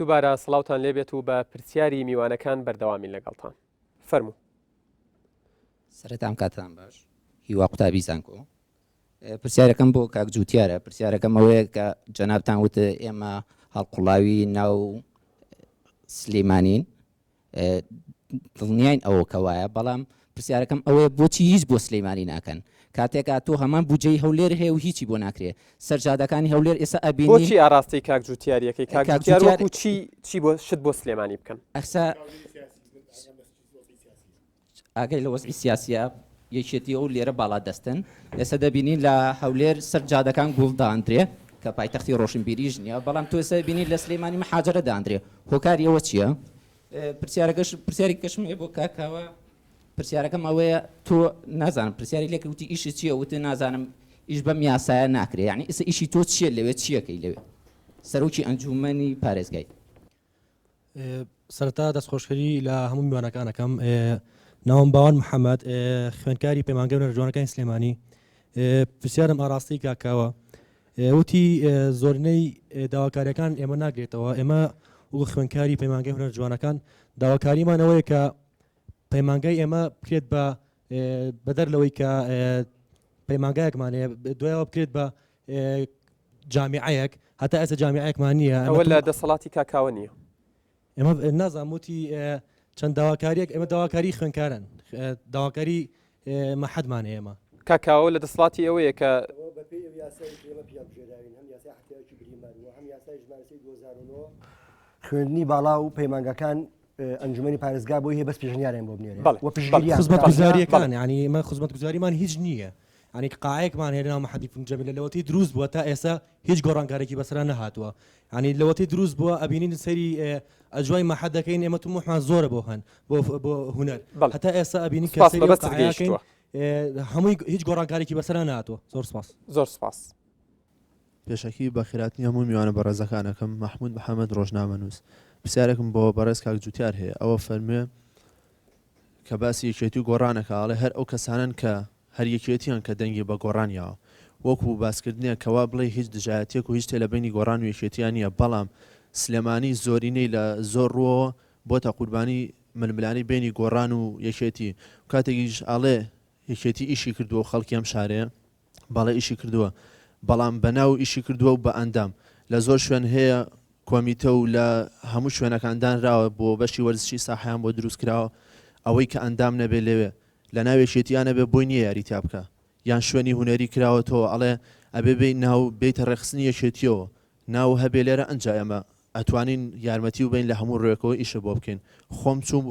دووبارە سڵاوان لێبێت و بە پرسیاری میوانەکان بەردەوامین لەگەڵتان فەرمو سەرتان کاتان باش هیوا قوتابی زانکۆ پرسیارەکەم بۆ کاک جووتارە پرسیارەکەم ئەوەیە کە جەنابان وتە ئێمە هەڵقڵاوی ناو سلێمانین دڵنیاین ئەوە کە وایە بەڵام پرسیارەکەم ئەوەیە بۆچی هیچ بۆ سلیمانی ناکەن کاتێک ئاتۆ هەمان بودجەی هەولێر هەیە و هیچی بۆ ناکرێ سەر جادەکانی هەولێر ئێستا ئەبینین بۆچی ئاراستەی کاک جوتیاریەکەی کاک جوتیار وەکو چی چی بۆ شت بۆ سلێمانی بکەن ئەخسا ئاگای لە وەزعی سیاسیە یەکێتیە و لێرە باڵا دەستن. ئێستا دەبینین لە هەولێر سەر جادەکان گوڵ داندرێ کە پایتەختی رۆشنبیریش نیە، بەڵام تۆ ئێستا دەبینی لە سلیمانی محاجەرە داندرێ، هۆکاری ئەوە چیە؟ پرسیارەکەش پرسیارێکی کەشم هەیە بۆ کاک کاوە، پرسیارەکەم ئەوەیە تۆ نازانم پرسیاری لێکرد وتی ئیشت چیە؟ وتی نازانم ئیش بەم یاسایە ناکرێ، یەعنی ئیستا ئیشی تۆ چیە لەوێ چیەکەی لەوێ سەرۆکی ئەنجومەنی پارێزگای؟ سەرەتا دەست خۆشکەری لە هەموو میوانەکان ئەکەم ناوم باوان محەممەد خوێندکاری پەیمانگە بنەرە جوانەکانی سلێمانی پرسیارم ئاراستەی کاکاوە وتی زۆرنەی داواکاریەکان ئێمە ناگرێتەوە ئێمە وەکو خوێندکاری پەیمانگەی هونەر جوانەکان داواکاریمانەوەیە کە پەیمانگای ئێمە بکرێت بە بەدەر لەوەی کە پەیمانگایەکمانەیە دوایەوە بکرێت بە جامیعەیەک هەتا ئێستا جامیعەیەکمان نییە. ئەوە لە دەسەڵاتی کاکاوە نییە؟ ئێمە نازانم وتی چەند داواکارییەک ئێمە داواکاری خوێندکاران داواکاری مەحەدمان هەیە ئێمە. کاکاوە لە دەسەڵاتی ئەوەیە کە خوێندنی باڵا و پەیمانگەکان ئەنجومی پارێزگا بۆی هەیە بەس پێشنیاریان بۆ بنێرێت بەڵێ خزمەتگوزاریەکان ینی ئێمە خزمەتگوزاریمان هیچ نییە. یانی قاعەیەکمان هەیە لەناو محەدی بن جەمیل لە لەوەتەی دروست بووە تا ئێستا هیچ گۆڕانکارێکی بەسەرا نەهاتووە یانی لەوەتەی دروست بووە ئەبینین سەیری ئەجوای محەد دەکەین ئێمە طموحمان زۆرە بۆ هەن بۆ بۆ هونەر بەڵێ. هەتا ئێستا ئەبینین کە سوپاس سەیری ئەو بەبەست قاعەیە کەین، گەیشتووە. ئێ، هەمووی هیچ گۆڕانکارێکی بەسەرا نەهاتووە زۆر سوپاس. زۆر سوپاس. پێشەکی بە خێراتنی هەموو میوانە بەڕێزەکانەکەم، مەحمود محەمەد ڕۆژنامەنووس. پرسیارێکم بۆ بەڕێز کاک جوتیار هەیە، ئەو ئەفەرموێ کە باسی یەکێتی و گۆڕان ئەکا ئەڵێ هەر ئەو کەسانەن کە هەر یەکێتییان کە دەنگی بە گۆڕان یاوە. وەکوو باسکردنێک کە وا بڵێی هیچ دژایەتییەک و هیچ تێ لە بەینی گۆڕان و یەکێتییا نییە، بەڵام سلێمانی زۆرینەی لە زۆر ڕووەوە بۆتە قوربانی ململانێی بەینی گۆڕان و یەکێتی و کاتێکیش ئەڵێ یەکێتی ئیشی کردووە و خەڵکی ئەم شارەیە، بەڵێ ئیشی کردووە، بەڵام بە ناو ئیشی کردووە و بە ئەندام. لە زۆر شوێن هەیە کۆمیتە و لە هەموو شوێنەکان دانراوە بۆ بەشی وەرزشی ساحەیان بۆ دروست کراوە، ئەوەی کە ئەندام نەبێ لەوێ لە ناو یەکێتیا نەبێ بۆی نییە یاری تیا بکا یان شوێنی هونەری کراوەتەوە ئەڵێ ئەبێ بێی ناو بێیتە ڕێکخستنی یەکێتییەوە ناو هەبێ لێرە ئەنجا ئێمە ئەتوانین یارمەتی ببەین لە هەموو ڕوێکەوە ئیشە بۆ بکەین خۆم چووم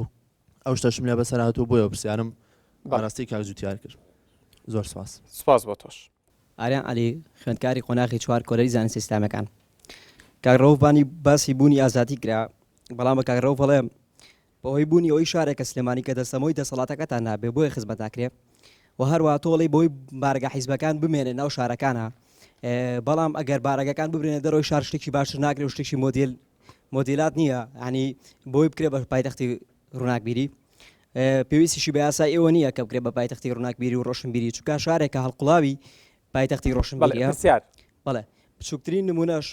ئەو شتەشم لێ بەسەر هاتووە بۆیە پرسیارم بەڕاستی کاک جوتیار کرد زۆر سپاس سپاس بۆ تۆش. ئاریان عەلی، خوێندکاری قۆناغی چوار کۆلێژی زانستە ئیسلامیەکان. کاک رەوف بانی باسی بوونی ئازادی کرا، بەڵام بە کاک رەوف ئەڵێم بەهۆی بوونی ئەوەی شارێکە سلێمانی کە دەستەمۆی دەسەڵاتەکەتان نابێ بۆیە خزمەت ناکرێ و هەروەها تۆ ئەڵێی بەهۆی بارەگا حیزبەکان بمێنێ ناو شارەکانا بەڵام ئەگەر بارەگەکان ببرێنە دەرەوەی شار شتێکی باشتر ناکرێ و شتێکی مۆدێل مۆدیلات نییە ینی بۆی بکرێ بە پایتەختی ڕووناکبیری پێویستیشی بە یاسا ئێوە نییە کە بکرێ بە پایتەختی ڕووناکبیری و ڕۆشنبیری چکە شارێکە هەڵقڵاوی پایتەختی ڕۆشنبیریسیار بەڵێ بچووکترین نمونەش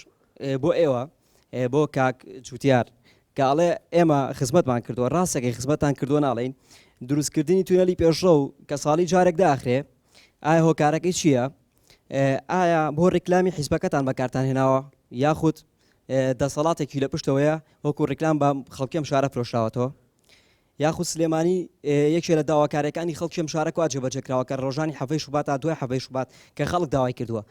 بۆ ئێوە بۆ کاک جوتیار کە ئەڵێ ئێمە خزمەتمان کردووە ڕاستەکەی خزمەتان کردو ناڵین دروستکردنی توێلی پێشڕە و کە ساڵی جارێک داخرێ ئایا هۆکارەکەی چییە؟ ئایا بۆ ڕیکلامی حیزبەکەتان بەکارتان هێناوە یاخود دەسەڵاتێکی لە پشتەوەیە وەکو ڕیکلام بە خەڵکی ئەم شارە فرۆشراوەتەوە یاخود سلێمانی یەکێ لە داواکارەکانی خەڵکی ئەم شارە کوا جێبەجێ کراوە کە ڕۆژانی حەفەی شوبات تا دوای حەفەی شوبات کە خەڵک داوای کردووە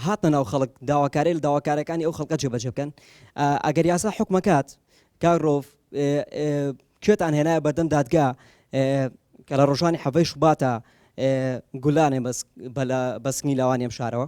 هاتنە ناو خەڵک داواکاری لە داواکارەکانی ئەو خەڵکە جێبەجێ بکەن ئەگەر یاسا حکومەکات کارۆڤ کوێتان هێنایە بەردەم دادگا کە لە ڕۆژانی حەفەی شوباتە گولانێ بەسنی لاوانی ئەم شارەوە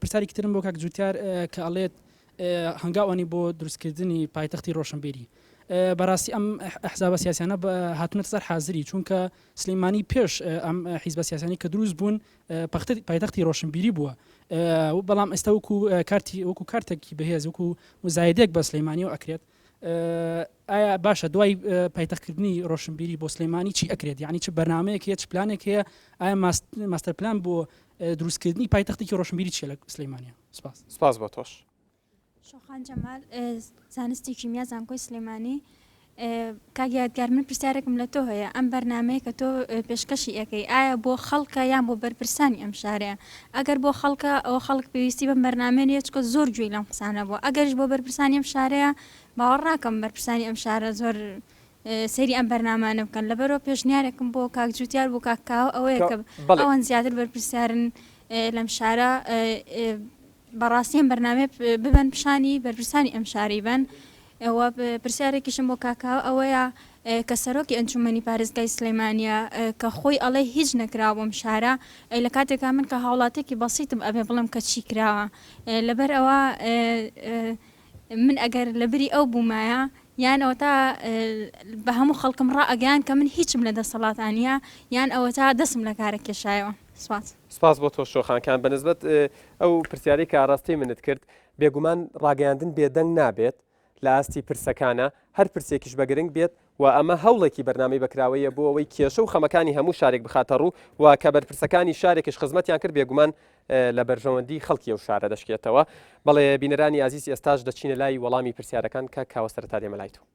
پرسیارێکی ترم بۆ کاک جوتیار کە ئەڵێت هەنگاو ئەنی بۆ دروستکردنی پایتەختی ڕۆشنبیری بەڕاستی ئەم حزابە سیاسیانە هاتونەت سەر حازری چونکە سلیمانی پێش ئەم حیزبە سیاسانی کە دروست بوون پایتەختی ڕۆشنبیری بووە بەڵام ئێستا وکو کارتی وەکو کارتێکی بەهێز وکو مزایدێک بە سلەیمانی و ئەکرێت ئایا باشە دوای پایتەخت کردنی ڕۆشنبیری بۆ سلێمانی چی ئەکرێت یعنی چ بەرنمەیەک هەیە چ پلانێک هەیە ئایا ماستەر پلان بۆ دروستکردنی پایتەختێکی ڕۆشنبیری چێ لە سلەیمانە سپاس سپاس بە تۆش شۆخان جەمال زانستی کیمیا زانکۆی سلێمانی کاک یادگار من پرسیارێکم لە تۆ هەیە ئەم بەرنامەیە کە تۆ پێشکەشی ئەکەی ئایا بۆ خەڵکە یان بۆ بەرپرسانی ئەم شارەیە ئەگەر بۆ خەڵکە ئەوە خەڵک پێویستی بەم بەرنامەیە نیە چکە زۆر گوێی لەم قسانە بوە ئەگەریش بۆ بەرپرسانی ئەم شارەیە باوەڕ ناکەم بەرپرسانی ئەم شارە زۆر سەیری ئەم بەرنامانە بکەن لەبەرەوە پێشنیارێکم بۆ کاک جوتیار بۆ کاکاوە ئەوەیە کە بەڵێ. ئەوان زیاتر بەرپرسیارن لەم شارە بەڕاستی ئەم بەرنامەیە ببەن پیشانی بەرپرسانی ئەم شاری بەن و پرسیارێکیشم بۆ کاکاوە ئەوەیە کە سەرۆکی ئەنجومەنی پارێزگای سلێمانە کە خۆی ئەڵێ هیچ نەکراوە بۆم شارە لە کاتێکا من کە هاوڵاتێکی بەسیتم ئەبێ بڵم کە چی کراوە لەبەر ئەوە من ئەگەر لە بری ئەو بوومایە یان ئەوە تا بە هەموو خەڵکم ڕائگەیان کە من هیچم لە دەسەڵاتانە یان ئەوە تا دەسم لە کارە کێشایەوە سوات. سپاس بۆ تۆش شۆخان کان بەنسبەت ئەو پرسیارەی کە ئاراستەی منت کرد بێگومان ڕاگەیاندن بێدەنگ نابێت لە ئاستی پرسەکانە هەر پرسێکیش بە گرنگ بێت و ئەمە هەوڵێکی بەرنامەی بەکراوەیە بۆ ئەوەی کێشە و خەمەکانی هەموو شارێک بخاتە ڕوو و کە بەرپرسەکانی شارێکش خزمەتیان کرد بێگومان لە بەرژەوەندی خەڵکی و شارە دەشکێتەوە بەڵێ بینەرانی ئازیز ئێستاش دەچینە لای وەڵامی پرسیارەکان کە کاوە سەرتا دێمە لای تۆ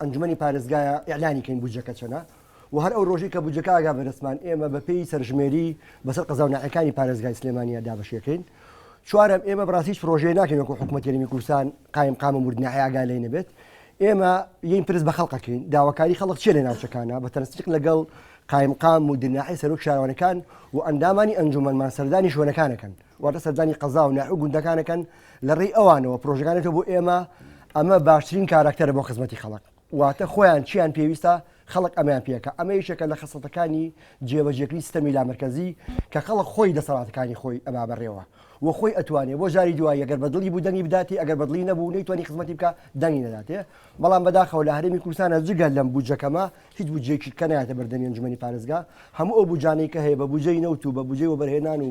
ئەنجومەنی پارێزگایە ئیعلانی کەین بودجەکە چەنە و هەر ئەو ڕۆژی کە بودجەکە ئاگا بەدەستمان ئێمە بە پێی سەرژمێری بەسەر قەزا و ناحەکانی پارێزگای سلێمانیە دابەشیەکەین چوارەم ئێمە بەڕاستی هیچ پرۆژەیە ناکەین وەکو حکومەت یەرمی کوردستان قایم قام و مردنە ئاگا لێ نەبێت ئێمە یین پرس بە خەڵقەکەین داواکاری خەڵک چێ لە ناوچەکانە بە تەنسیق لەگەڵ قایم قام و دناحی سەرۆک شارەوانەکان و ئەندامانی ئەنجومەنمان سەردانی شوێنەکانەکەن واتە سەردانی قەزا و ناحیە و گوندەکان ئەکەن، لە ڕێی ئەوانەوە پرۆژەکان دێتەوە بۆ ئێمە، ئەمە باشترین کاراکتەرە بۆ خزمەتی خەڵک، واتە خۆیان چییان پێویستە خەڵک ئەمەیان پێ ئەکا، ئەمە یەکێکە لە خەسڵەتەکانی جێبەجێکردنی سیستەمی لامەرکەزی کە خەڵک خۆی دەسەڵاتەکانی خۆی ئەبا بەڕێوە و خۆی ئەتوانێ بۆ جاری دوایی گەر بە دڵی بوو دەنگی بداتێ ئەگەر بە دڵی نەبوو نەیتوانی خزمەتی بکا دەنگی نەداتێ، بەڵام بەداخەوە لە هەرێمی کوردستانا جگە لەم بودجە کەمە هیچ بودجەیەکی کە نایەتە بەردەمی ئەنجومەنی پارێزگا، هەموو ئەو بودجانەی کە هەیە بە بودجەی نەوت و بە بودجەی وەبەرهێنان و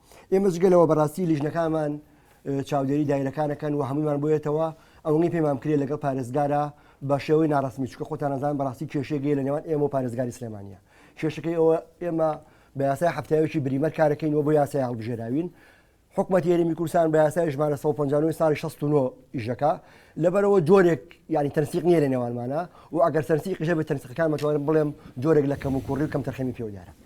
ئێمە جگە لەوە بەڕاستی لیژنەکانمان چاودێری دایرەکانەکەن و هەموویمان بۆیەتەوە ئەوەی پێمان کرێ لەگەڵ پارێزگارە بە شێوەی ناڕستمی چکە خۆتانەزان بەڕاستی کێشێگەی لە نێوان ئێمە و پارێزگاری سلێمانە کێشەکەی ئەوە ئێمە بە یاسای هەفتاوێکی بریمەر کارەکەین و بۆ یاسای هەڵبژێراوین حکومەت یاریمی کوردستان بە یاسای ژمارە 150 ساڵی 16 ئیشەکە لەبەرەوە جۆرێک ینی تەنسیق نیە لە نێوانمانە و ئەگەر سەرسی قژە بە تەنسیقەکان مەتوانم بڵێم جۆرێک لە کەم و کوڕی و کەم تەرخەمی پێوەدارە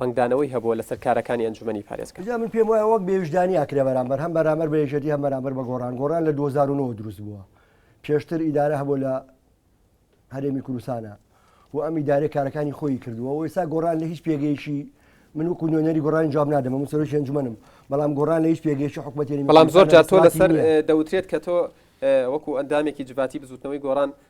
ڕەنگدانەوەی هەبووە لەسەر کارەکانی ئەنجومەنی پارێزگا. جا من پێم وایە وەک بێ ویژدانی ئاکرێ بەرامبەر هەم بەرامبەر بە یەکێتی هەم بەرامبەر بە گۆڕان گۆڕان لە دوو هەزار و نۆ وە دروست بووە پێشتر ئیدارە هەبوو لە هەرێمی کوردستانە و ئەم ئیدارەی کارەکانی خۆی کردووە و ئێستا گۆڕان لە هیچ پێگەیشی من وکو نوێنەری گۆڕانی جواب نادەمە من سەرۆکی ئەنجومەنم بەڵام گۆڕان لە هیچ پێگەیشی حکوومەتی بەڵام زۆر جار تۆ لەسەر دەوترێت کە تۆ وەکو ئەندامێکی جڤاتی بزوتنەوەی گۆڕان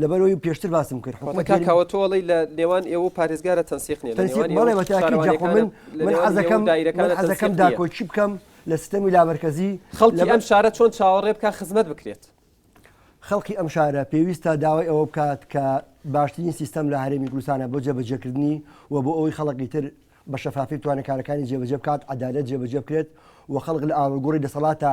لەبەرەوەی پێشتر باسم کرد حکومەتەکەوەتۆڵی لە نێوان ئێوە پارێزگارە تەنسیق نیە منەکەم داکۆچی بکەم لە سیستەمی لابەرکەزی خەڵکی ئەم شارە چۆن چاوەڕێ بکە خزمەت بکرێت خەڵکی ئەم شارە پێویستە داوای ئەوە بکات کە باشترین سیستەم لە هەرێمی کوردستانە بۆ جێبەجێکردنی و بۆ ئەوی خەڵکی تر بە شەفافی توانەکارەکانی جێبەجێ بکات عدالت جێبەجێ بکرێت و خەڵک لە ئاڵگوڕی دەسەڵاتە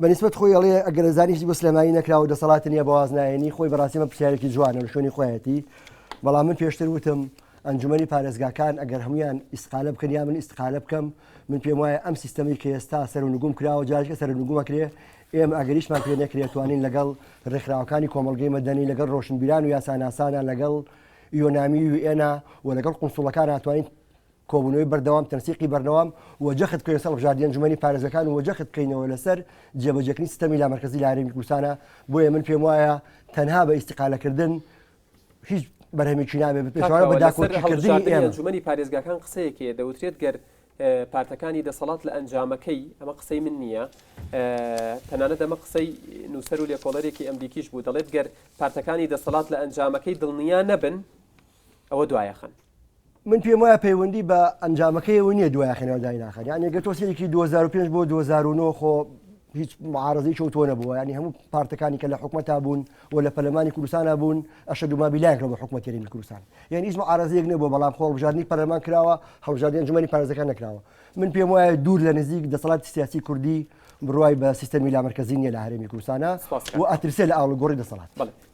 بە نیسبەت خۆی ئەڵێ ئەگەر زانی هیچ بۆ سلێمانی نەکراوە و دەسەڵاتی نییە بە واز نایەنی خۆی بەڕاستی ئەمە پرسیارێکی جوانە لە شوێنی خۆیەتی بەڵام من پێشتر وتم ئەنجومەنی پارێزگاکان ئەگەر هەمویان ئیسقالە بکەن یا من ئیسقالە بکەم من پێم وایە ئەم سیستەمی کە ئێستا سەر و نگوم کراوە جارکە سەر نگومەکرێ ئێمە ئەگەریشمان پێ نەکرێتوانین لەگەڵ ڕێکخراوەکانی کۆمەلگەی مەدەنی لەگەڵ ڕۆشنبیران و یاساناسانە لەگەڵ یۆنامی و ئێنا و لەگەڵ قونسوڵەکان هاتوانین کۆبوونەوەی بەردەوام، تەنسیقی بەرنەوام و جەخت بکەوینە سەر هەڵبژاردی ئەنجومەنی پارێزگەکان و جەخت بکەینەوە لەسەر جێبەجێکردنی سیستەمی لامەرکەزی لە هەرێمی کوردستانە، بۆیە من پێم وایە تەنها بە ئیستیقالەکردن هیچ بەرهەمێکی نابێت بە پێچەوانە بە داکۆکیکردنی ئێمە. ئەنجومەنی پارێزگاکان قسەیەک هەیە دەوترێت گەر پارتەکانی دەسەڵات لە ئەنجامەکەی، ئەمە قسەی من نییە، تەنانەت ئەمە قسەی نووسەر و لێکۆڵەرێکی ئەمریکیش بوو دەڵێت گەر پارتەکانی دەسەڵات لە ئەنجامەکەی دڵنیا نەبن، ئەوە دوایەخەن. من پێم وایە پەیوەندی بە ئەنجامەکەیەوە نییە دوای خێنەوە دایناخەن یان یەگە تۆسێکی 2005 بۆ 2009 خۆ هیچ معارزەی چەوتۆ نەبووە ینی هەموو پارتەکانی کە لە حکومەتا بوون و لە پەلمانی کوردستانە بوون ئەشە دوما بیلایکەوە بە حکومەت تێرین کوردستان یان هیچ معارزەیەک نەبوو بەڵام خۆڵبژاردننی پەرلەمان کراوە هەڵژاردن جمەنی پارێزەکان نکراوە من پێم وایە دوور لە نزیک دەسەڵات سیاسی کوردی بڕای بە سیستەمی لامەرکزی نیە لە هەرێمی کوردستانە و ئەترسێ لە ئاڵگۆڕی دەسەڵات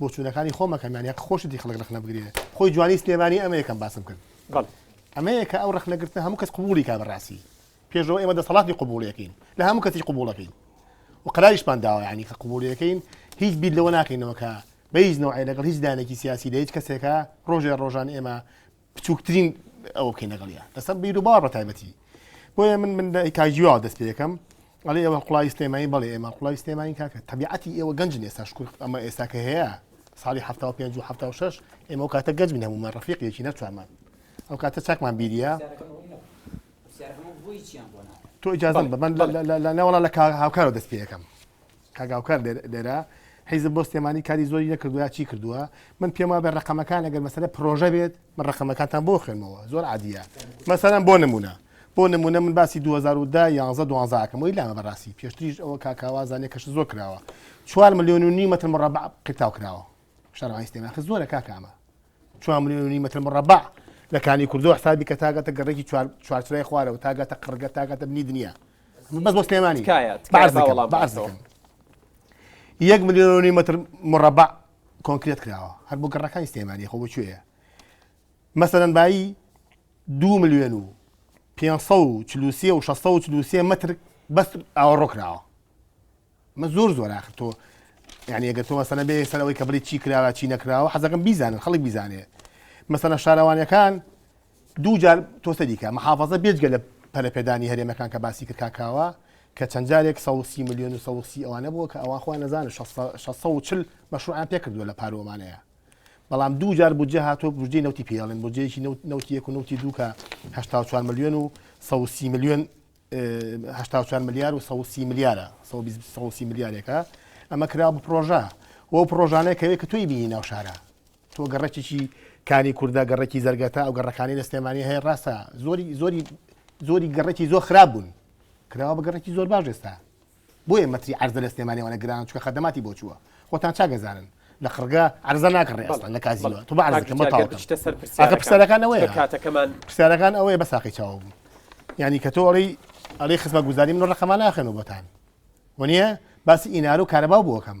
بۆچوونەکانی خۆم ئەکەم یانی هەق خۆشتی خەڵک ڕەخنە بگرێ خۆی جوانی سلێمانی ئەمە یەکەم باسم کرد بەڵێ ئەمە یەکە ئەو ڕەخنەگرتنە هەموو کەس قبولی کا بەڕاستی پێشەوە ئێمە دەسەڵاتی قبولەکەین لە هەموو کەسی قبولەکەین و قراریشمان داوە ینی کە قبولەکەین هیچ بیت لەوە ناکەینەوە کە بە هیچ نوعی لەگەڵ هیچ دانێکی سیاسی لە هیچ کەسێکە ڕۆژێ ڕۆژان ئێمە بچووکترین ئەوە بکەین لەگەڵیا لەسەر بیر و باوە بە تایبەتی بۆیە من من کاژیوا دەست پێەکەم ئەڵێ ئێوە قوڵای سلێمانی بەڵێ ئێمە قوڵای سلێمانی کاکە تەبیعەتی ئێوە گەنج ئێستا شکر ئەمە ئێستاکە هەیە ساڵی ه پێ ه شش ئێمە و کاتە گەنج بنەمومان ڕفیقێکی نەچوارمان ئەو کاتە چاکمان بیریە تۆ ئجازم بە من لە ناوەڵا لە هاوکارەوە دەست پێەکەم کاک هاوکار لێرە حیزب بۆ سلێمانی کاری زۆری نەکردو یا چی کردووە من پێم وابێ ڕقەمەکان ئەگەر مەسەلە پرۆژە بێت من ڕقەمەکانتان بۆ خوێنمەوە زۆر عادیە مەسەرم بۆ نمونە بۆ نمونە من باسی 2010 یانزە دوانزاکەم وی لامە بەڕاستی پێشتریش ئەوە کاکاوازانێ کەش زۆر کراوە چوار ملیۆن و نی مەتر مڕبع قیتاو کراوە شەرعی سلێمان خ زۆرە کاکامە چوار ملیۆن و نیم مەتر مڕەبەع لە کانی کوردەوە حساب بکە تا گاتە گەڕێکی چوارچرای خوارەوە تا گاتە قڕگە تا گاتە بنی دنیا بەس بۆ سلێمانی یەک ملیۆن و نیم مەتر مڕەبەع کۆنکرێت کراوە هەر بۆ گەڕەکانی سلێمانی خۆ بچێە مەسەرەن بایی دو ملیۆن و 540 و 640 متر بەس ئاوەڕۆ کراوە مە زۆر زۆر ئاخر تۆ یعنی ئەگەر تۆ مەسەنە بێ سەر ئەوەی کە بڵی چی کراوە چی نەکراوە حەزەکەم بیزانن خەڵک بیزانێ مەسەنە شارەوانەکان دوو جار تۆسە دیکە محافظە بێجگە لە پەرپێدانی هەرێمەکان کە باسی کرد کاکاوە کە چەند جارێک 130 میلیۆن و 130 ئەوانە بووە کە ئەوان خۆیان نەزانن 640 مەشروعان پێکردووە لە پارۆمانەیە بەڵام دوو جار بودجە هاتۆ بودجی نوتی پێڵێن بودجەیەکی نوتیەک و نوتی دووکە 4 میلیۆن و 130 میلیۆن هەشتا و چوار ملیار و سەد و سی ملیارە سەد و بیست سەد و سی ملیارێکە ئەمە کراوە بە پرۆژە و ئەو پرۆژانەیە کەوێت کە تۆی بینی ناو شارە تۆ گەڕەکێکی کانی کوردە گەڕێکی زەرگەتە ئەو گەڕەکانی لە سلێمانی هەیە ڕاستە زۆری زۆری زۆری گەڕێکی زۆر خراپ بوون کراوە بە گەڕێکی زۆر باش ئێستا بۆیە مەتری عەرزە لە سلێمانی ئەوەنە گرانە چونکە خەدەماتی بۆ چووە خۆتان چاک ئەزانن لە قڕگا عەرزە ناکڕێ بەڵێ ئەسڵەن لە کازینۆ بەڵێ تۆ با عەرزەکەم بۆ کاک گیان گەر تەواو کەم بچیتە سەر ئاخر پرسیارەکان پرسیارەکان ئەوەیە چونکە کاتەکەمان پرسیارەکان ئەوەیە بە ساقەی چاوەو بوو یانی کە تۆ ئەڵێی ئەڵێی خزمەتگوزاری من ڕقمە ناخوێنەوە بۆتان وەنیە باسی ئینارە و کارەبا بۆ ئەکەم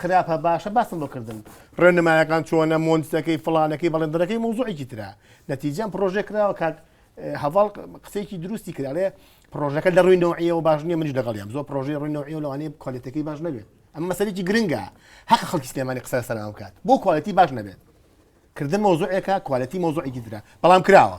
خراپە باشە باسم بۆ کردن ڕێنمایەکان چۆنە مۆنتەکەی فلانەکەی بەڵێندەکەی مۆزوعێکی تررا نەتیجەم پرۆژێ کراوە کاک هەواڵ قسێکی دروستی کرالێ پرۆژەکە لە ڕووی نەوەیەوە باش نیە منیش دەگەڵیان زۆر پرۆژی ڕووی نەوەیە لەوانەیە کۆلێتەکەی باش نەبێت ئەم مەسەرێکی گرنگە هەق خەڵکی سلێمانی قسە سەران بکات بۆ کوالەتی باش نەبێت کردن مۆزوعێکە کوالەتی مۆزوعێکی درا بەڵام کراوە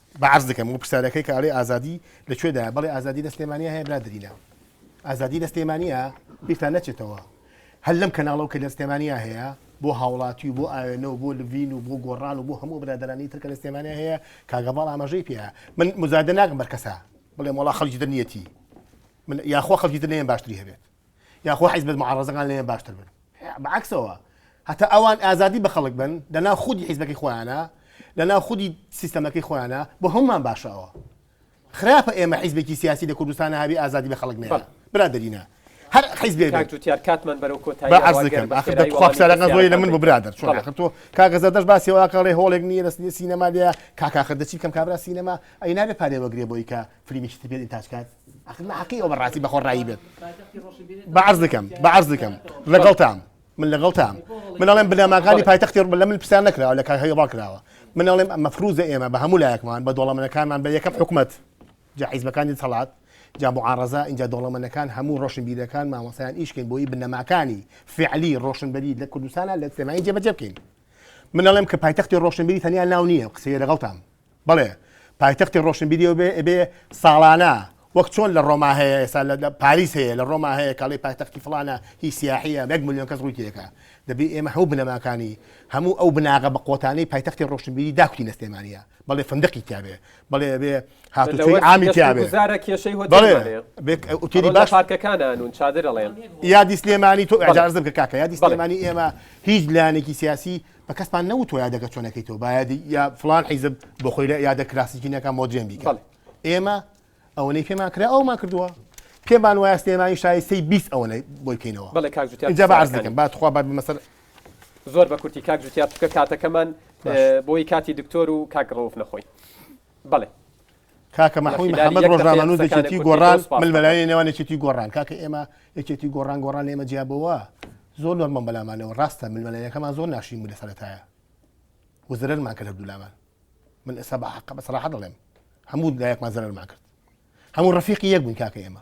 با عەرز دکەم وە پرسیارەکەی کە ئەڵێی ئازادی لە کوێدایە بەڵێ ئازادی لە سلێمانیە هەیە برادەرینە ئازادی لە سلێمانیە بیرتان نەچێتەوە هەر لەم کەناڵەو کە لە سلێمانیە هەیە بۆ هاوڵاتی و بۆ ئاوێنە و بۆ لڤین و بۆ گۆڕان و بۆ هەموو ئەو برادەرانی تر کە لە سلێمانیە هەیە کاک هەڤاڵ ئاماژەی پێیە من موزایدە ناکەم بەر کەسا بڵێم وەڵا خەڵکی تر نیەتی من یاخوا خەڵکی تر لێم باشتری هەبێت یاخوا حیزبە موعارەزەکان لێیان باشتر بن بە عەکسەوە هەتا ئەوان ئازادی بە خەڵک بن لەناو خودی حیزبەکەی خۆیانە لەناو خودی سیستەمەکەی خۆیانە بۆ هەمومان باشە ئەوە خراپە ئێمە حیزبێکی سیاسی لە کوردستانە هەبی ئازادی بە خەڵک نێرە برادرینە هەر حیزبێک کاک جوتیار کاتمان بەرەو کۆتایی با عەرز دەکەم آخر دە خوا بسەرەکە زۆری لە من بۆ برادر چۆن آخر تۆ کاکە زەردەش باسی واکەڵێ هۆڵێک نییە لە سینەما لێ کاکاخر دەچی بکەم کابرا سینەما ئەی نابێ پارێ وەگرێ بۆی کە فلیمی چتر بێت ئینتاج کات ئەخر لە حەقی ئەوە بەڕاستی بەخۆ ڕایی بێت بە عەرز دەکەم بە عەرز دەکەم لەگەڵتام من لەگەڵتام من ئەڵێم بنەماکانی پایتەختی ڕ- لە من پرسیار نەکراوە لە کاک هەیوڕا کراوە من ئەڵێم ئەمە فروزە ئێمە بە هەموو لایەکمان بە دۆڵەمەنەکانمان بە یەکەم حکومەت جا حیزبەکانی دەسەڵات جا معارەزە ئینجا دۆڵەمەنەکان هەموو ڕۆشنبیرەکان مامۆستایان ئیش بکەین بۆی بنەماکانی فعلی ڕۆشنبەری لە کوردستانە لە سلێمانی جێبەجێ بکەین من ئەڵێم کە پایتەختی ڕۆشنبیری تەنیا ناو نییە قسەیە لەگەڵتام بەڵێ پایتەختی ڕۆشنبیری و بێ ئەبێ ساڵانە وەک چۆن لە ڕۆما هەیە ئێستا لە پاریس هەیە لە ڕۆما هەیە کەڵی پایتەختی فڵانە هی سیاحە بەک ملیۆن کەس ڕووی تێکە دەبێ ئێمە هەوو بنەماکانی هەموو ئەو بناغە بە قۆتانی پایتەختی ڕۆشنبیری داکوی لە سلێمانە بەڵێ فندقی تیاێ بەڵێ بێ هاتوچۆی ئامی تیاێ کێشەی هۆتێلی باش پارکەکانانون چادرەڵێن یادی سلێمانی تۆ ئەجارزم کاکە یادی سلێمانی ئێمە هیچ لایەنێکی سیاسی بە کەسمان نەوتۆ یادەکە چۆنەکەی تۆ باید یا فلان حیزب بۆ خۆی لە یادە کلاسیکینەکە مۆدرێن بیکە ئێمە ئەوەی پێمان کرا ئەومان کردووە پێمان وایە سلێمانی شایستەی بیست ئەوەنە بۆی بکەینەوە بەڵێ کاک جا بەعزەکەم باتخوا بات بمەسەر زۆر بە کورتی کاک جوتیا چکە کاتەکەمان بۆی کاتی دکتۆر و کاک ڕوف نەخۆی بەڵێ کاکە مەحوی محەمەد ڕۆژنامەنووس یەکێتی گۆڕان ململایە نێوان یەکێتی گۆڕان کاکە ئێمە یەکێتی گۆڕان گۆڕان لێمە جیابەوە زۆر نۆرمە بەلامانەوە ڕاستە ململایەکەمان زۆر ناشین بوو لە سەرەتایە وزرەرمان کرد هەردوولامان من ئێستا بە حەقە بە سەراحە دەڵێم هەموو لایەکمان زەرمان کرد هەموو ڕفیقی یەک بوون کاکە ئێمە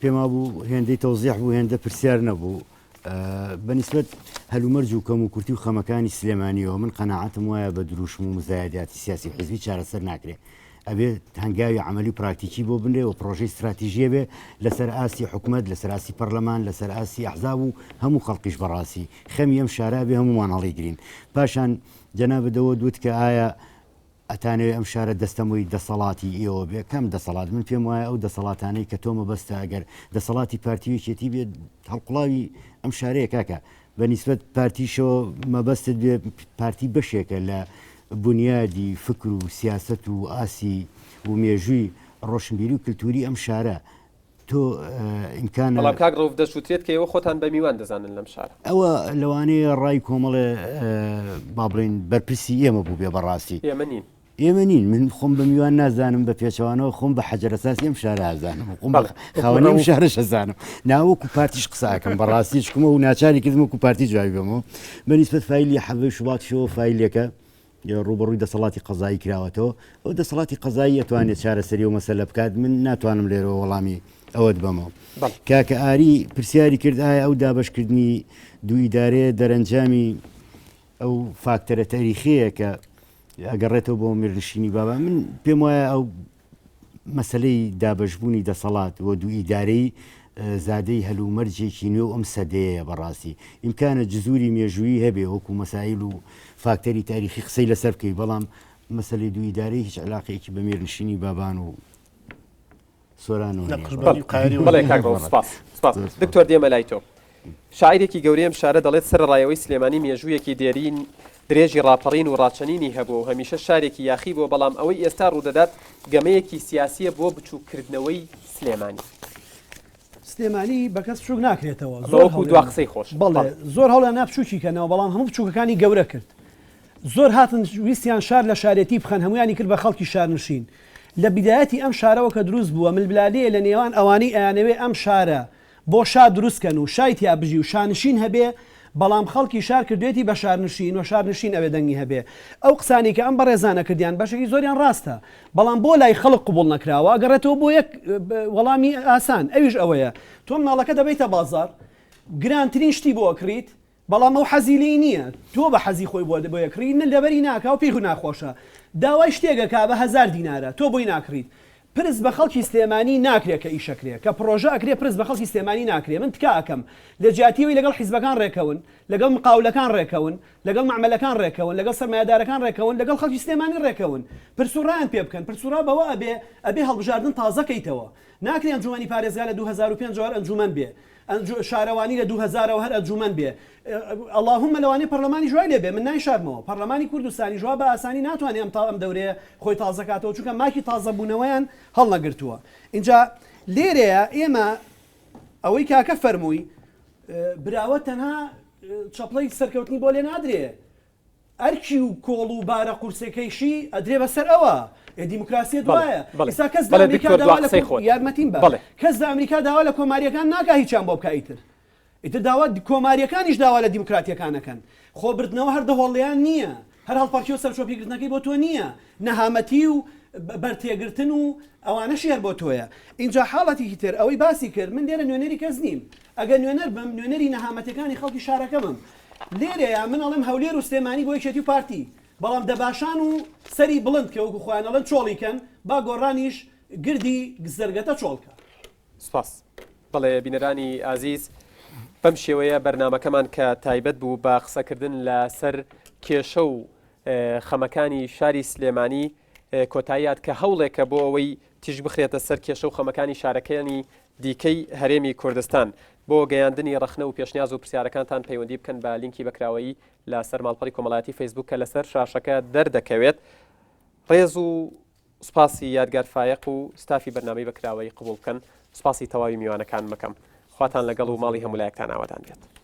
پێم وابوو هێندەی تەوزیح بوو هێندە پرسیار نەبوو بەنیسبەت هەلومەرج و کەم و کورتی و خەمەکانی سلێمانیەوە من قەنەعاتم وایە بە دروشم و مزایداتی سیاسی حزبی چارەسەر ناکرێت ئەبێت هەنگاوی عملی پراکتیکی بۆ بنرێ و پرۆژەی استراتیژیە بێ لەسەر ئاستی حکومت لەسەر ئاستی پەرلەمان لەسەر ئاستی ئەحزاب و هەموو خەڵکیش بەڕاستی خەمی ئەم شارابێ هەمومان هەڵی گرین پاشان جەنابەدەوە دوت کە ئایا ئەتانەوێ ئەم شارە دەستەمۆی دەسەڵاتی ئێوە بێ کام دەسەڵات من پێم وایە ئەو دەسەڵاتانەی کە تۆ مەبەستە ئەگەر دەسەڵاتی پارتی و یەکێتی بێت هەڵقوڵاوی ئەم شارەیە کاکە بە نیسبەت پارتیشەوە مەبەستت بێ پارتی بەشێکە لە بنیادی فکر و سیاست و ئاسی و مێژووی ڕۆشنبیری و کللتوری ئەم شارە تۆ ئینکان بەڵام کاک ڕوف دەسووتێت کە ئێوە خۆتان بە میوان دەزانن لەم شار ئەوە لەوانەیە ڕای کۆمەڵێ با بڵین بەرپرسی ئێمە بوو بێ بەڕاستی ئێمە نین ئێمە نین من خۆم بە میوان نازانم بە پێچوانەوە خۆم بە حەجرەساس ئەم شارازانم خۆم خاوەنی و شارە شەزانم ناوەکو پارتیش قساکەم بەڕاستی شکمە و ناچاری کردم وکو پارتی جوابی بەمەوە بەنیسبەت فیلی حەبی شوڵاتشەوە فیلەکە ڕووبەڕووی دەسەڵاتی قەزایی کراوەتەوە، ئەو دەسەڵاتی قەزایی ئەتوانێت چارەسەری ئەو مەسەلە بکات، من ناتوانم لێرەوە وەڵامی ئەوەت بەمەوە. کاکە ئاری پرسیاری کرد ئایا ئەو دابەشکردنی دوو ئیدارەیە دەرەنجامی ئەو فاکتەرە تاریخیەیە کە ئەگەڕێتەوە بۆ میرنشینی بابان، من پێم وایە ئەو مەسەلەی دابەشبوونی دەسەڵات و دوو ئیدارەیی زادەی هەلومەرجێکی نوێو ئەم سەدەیەیە بەڕاستی ئیمکانە جزوری مێژوویی هەبێ وەکو مەسایل و فاکتەری تاریخی قسەی لەسەر بکەی بەڵام مەسلی دوو ئیدارەی هیچ علاقەیەکی بە مێرنشینی بابان و سۆران و دکتۆر دێمە لای تۆ شاعیرێکی گەورەی ئەم شارە دەڵێت، سەرەڕایەوەی سلێمانی مێژوویەکی دێرین درێژی ڕاپەڕین و ڕاچەنینی هەبووە و هەمیشە شارێکی یاخی بووە، بەڵام ئەوەی ئێستا ڕوودەدات گەمەیەکی سیاسییە بۆ بچووککردنەوەی سلێمانی. سلێمانی بە کەس بچووک ناکرێتەوە، زۆر هەوڵیاندا بچووکی کەنەوە، بەڵام هەموو بچووکەکانی گەورە کرد. زۆر هاتن ویستیان شار لە شارێتی بخەن، هەموویانی کرد بە خەڵکی شارنشین. لە بیدایەتی ئەم شارەوە کە دروست بووە، ململانێیە لە نێوان ئەوانەی ئەیانەوێت ئەم شارە بۆ شا دروست کەن و شای تیا بژی و شانشین هەبێ بەڵام خەڵکی شار کردوێتی بە شارنشین و شارنشین ئەوێ دەنگی هەبێ ئەو قسانەی کە ئەم بەڕێزانە کردیان بەشێکی زۆریان ڕاستە بەڵام بۆ لای خەڵک قبوڵ نەکراوە ئەگەڕێتەوە بۆ یەک وەڵامی ئاسان ئەویش ئەوەیە تۆ مناڵەکە دەبەیتە بازاڕ گرانترین شتی بۆ ئەکڕیت بەڵام ئەو حەزی لێی نییە، تۆ بە حەزی خۆی بۆ دەکڕی، نە لەبەری ناکا و پێی ناخۆشە. داوای شتێک ئەکا بە هەزار دینارە، تۆ بۆی ناکڕیت. پرس بە خەڵکی سلێمانی ناکرێ کە ئیش ئەکرێ، کە پڕۆژە ئەکرێ پرس بە خەڵکی سلێمانی ناکرێ. من تکا ئەکەم لە جیاتی ئەوەی لەگەڵ حیزبەکان ڕێکەون، لەگەڵ مقاولەکان ڕێکەون، لەگەڵ مەعمەلەکان ڕێکەون، لەگەڵ سەرمایەدارەکان ڕێکەون، لەگەڵ خەڵکی سلێمانی ڕێکەون. پرس و ڕایان پێ بکەن. پرس و ڕا بەوە ئەبێ، ئەبێ هەڵبژاردن تازە کەیتەوە. ناکرێ ئەنجوومەنی پارێزگا لە دوو هەزار و پێنج وار ئەنجوومەن بێ. ئەنج شارەوانی لە دوو هەزار ەوە هەر ئەنجومەن بێ اللهم لەوانەیە پەرلەمانیش وای لێ بێ من نایشارمەوە پەرلەمانی کوردستانیش وا بە ئاسانی ناتوانێ ئەم تا ئەم دەورەیە خۆی تازە کاتەوە چونکە ماکی تازەبوونەوەیان هەڵنەگرتووە ئینجا لێرەیە ئێمە ئەوەی کاکە فەرمووی براوە تەنها چەپڵەی سەرکەوتنی بۆ لێ نادرێ ئەرکی و کۆڵ و بارە قورسەکەیشی ئەدرێ بە سەر ئەوا. ئێ دیموکراسییە دوایە. ئیستا کەس لە ئەمریکا داوا لە کۆم. یارمەتیم بە. کەس لە ئەمریکا داوا لە کۆمارییەکان ناکا هیچیان بۆ بکا ئیتر. ئیتر داوا کۆمارییەکانیش داوا لە دیموکراتییەکان ئەکەن. خۆ بردنەوە هەر دەهۆڵێیان نییە. هەر هەڵپەڕکێ و سەرچۆپیگرتنەکەی بۆ تۆ نییە. نەهامەتی و بەر تێگرتن و ئەوانەشی هەر بۆ تۆیە. ئینجا حاڵەتیکی تر ئەوەی باسی کرد، من لێرە نوێنەری کەس نیم. ئەگەر نوێنەر بم نوێنەری نەهامەتیەکانی خەڵکی شارەکەمم لێرەیە من ئەڵێم هەولێر و سلێمانی بۆ یەکێتی و پارتی بەڵام دەباشان و سەری بڵند کە وەکو خۆیان ئەڵێن چۆڵی کەن با گۆڕانیش گردی زەرگەتە چۆڵ کا. سپاس. بەڵێ بینەرانی ئازیز بەم شێوەیە بەرنامەکەمان کە تایبەت بوو بە قسەکردن لە سەر کێشە و خەمەکانی شاری سلێمانی کۆتاییات کە هەوڵێکە بۆ ئەوەی تیژ بخرێتە سەر کێشە و خەمەکانی شارەکەیانی دیکەی هەرێمی کوردستان. بۆ گەیاندنی ڕەخنە وپێشنیاز و پرسیارەکانتان پەیوەندی بکەن بە لینکی بەکراوەیی لە سەر ماڵپەڕی کۆمەڵایەتی فەیسبووک کە لە سەر شاشەکە دەردەکەوێت. ڕێز و سوپاسی یادگار فایەق و ستافی بەرنامەی بەکراوەیی قبوڵ بکەن. سوپاسی تەواوی میوانەکانم ئەکەم. خواتان لەگەڵ و ماڵی هەموولایەکتان ئاوەدان بێت.